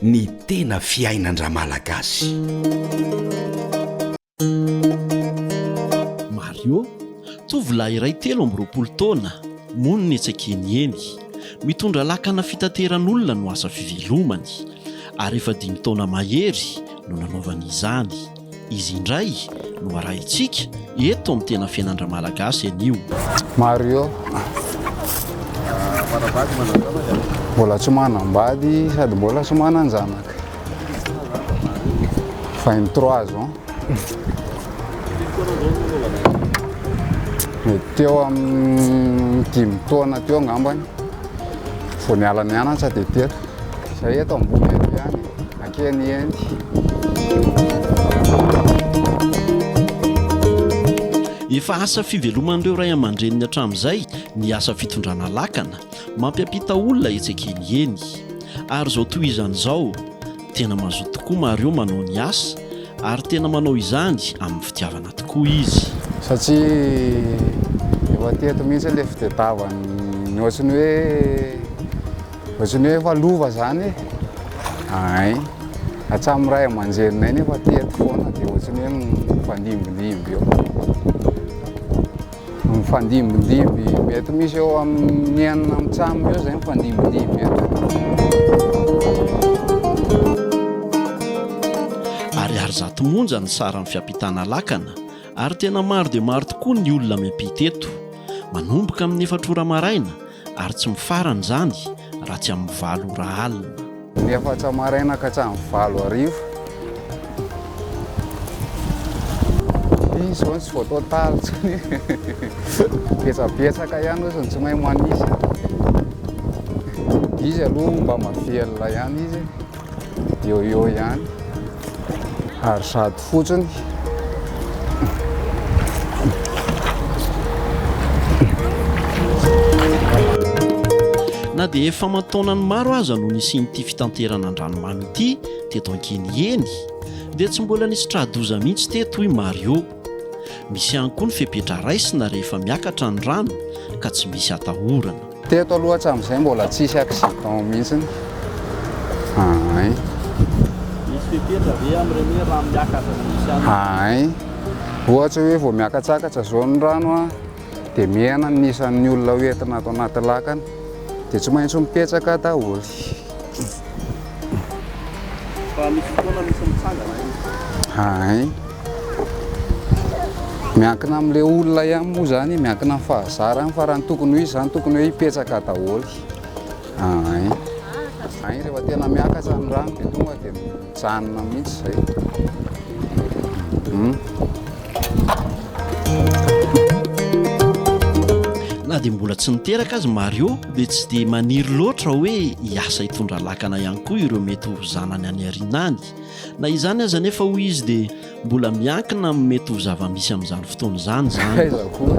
Ny tena fiainan-dRamalagasy. Mario, tovolahy iray telo amby roapolo taona, monina etsy an-kenieny. Mitondra lakana fitateran'olona no asa fivelomany, ary efa dimy taona mahery no nanaovany izany. Izy indray no arahintsika eto amin'ny Tena Fiainan'Ra-Malagasy anio. Mario, mbola tsy manambady sady mbola tsy manan-janaka. Vingt trois ans. Mety teo amin'ny dimy taona teo angambany vao niala nianatra dia teto. Izay eto ambony eto ihany. Kenny Andy. Efa asa fiveloman'ireo ray aman-dreniny hatramin'izay ny asa fitondrana lakana, mampiampita olona etsy akeny eny. Ary izao tohizany izao, tena mazoto tokoa Mario manao ny asa, ary tena manao izany amin'ny fitiavana tokoa izy. Satria efa teto mihitsy ilay fitadiavany, ny ohatry ny hoe. Ohatrany hoe efa lova zany e. Ay, hatramin'ny ray aman-dreninay nefa teto foana dia ohatrany hoe mifandimbindimby eo. Mifandimbindimby, mety misy eo amin'ny enina amin'ny tsamy eo zay mifandimbindimby eto. Ariary zato monja ny saran'ny fiampitana lakana ary tena maro dia maro tokoa ny olona miampita eto. Manomboka amin'ny efatra ora maraina ary tsy mifarana izany raha tsy amin'ny valo ora alina. Ny efatra maraina ka hatramin'ny valo hariva. Izy izao no tsy voatao talo intsony. Betsabetsaka ihany hoy izy no tsy mahay manisy. Izy aloha mba mahavelona ihany izy. Eo eo ihany ary sady fotsiny. Na dia efa aman-taonany maro aza no nisian'ity fitanterana an-dranomamy ity teto Ankeniheny dia tsy mbola nisy tra-doza mihitsy teto hoy Mario. Misy ihany koa ny fepetra raisina rehefa miakatra ny rano ka tsy misy atahorana. Teto aloha hatramin'izay mbola tsisy accident mihitsiny. Ahay. Misy fepetra ve amin'ireny hoe rano miakatra sy misy an'ireny? Ahay. Ohatra hoe vao miakatsakatra izao ny rano dia mihena ny isan'ny olona hoentina ato anaty lakana dia tsy maintsy mipetraka daholo. Fa misy fotoana misy mitsangana iny. Hay. Miankina amin'ilay olona ihany moa izany, miankina amin'ny fahazarany fa raha ny tokony ho izy izany tokony hoe hipetraka daholo. Hay. Hay rehefa tena miakatra ny rano dia tonga dia Mijanona mihitsy izay. Na dia mbola tsy niteraka aza i Mario dia tsy dia maniry loatra hoe hiasa hitondra lakana ihany koa ireo mety ho zanany any aoriana any. Na izany aza anefa hoy izy dia Mbola miankina amin'ny mety ho zava-misy amin'izany fotoana izany izany. Aiza koa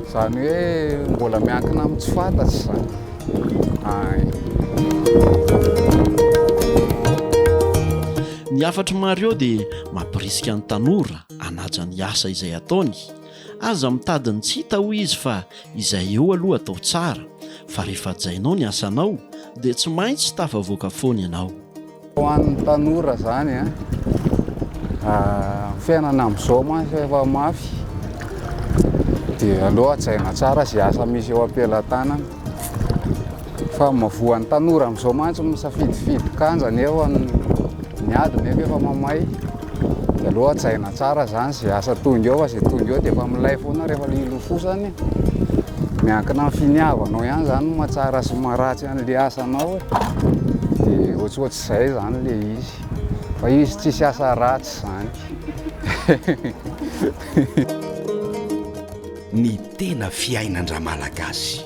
izany hoe mbola miankina amin'ny tsy fantatra izany. Ay. Ny hafatr'i Mario dia mampirisika ny tanora hanaja ny asa izay ataony. Aza mitady ny tsy hita hoy izy fa izay eo aloha atao tsara, fa rehefa hajainao ny asanao dia tsy maintsy tafavoaka foana ianao. Ho an'ny tanora zany an, fiainana amin'izao mantsy efa mafy dia aleo hajaina tsara izay asa misy eo am-pelatanana fa voan'ny tanora amin'izao mantsy misafidifidy kanja nefa ny ady nefa efa mamay dia aleo hajaina tsara zany izay asa tonga eo fa izay tonga eo dia efa milay foana rehefa ilofosany, miankina amin'ny finiavanao ihany zany ny mahatsara sy ny maharatsy. Zany le asanao de ohatsohatsy zay zany le izy fa izy tsisy asa ratsy zany. Ny tena fiainan-dRamalagasy.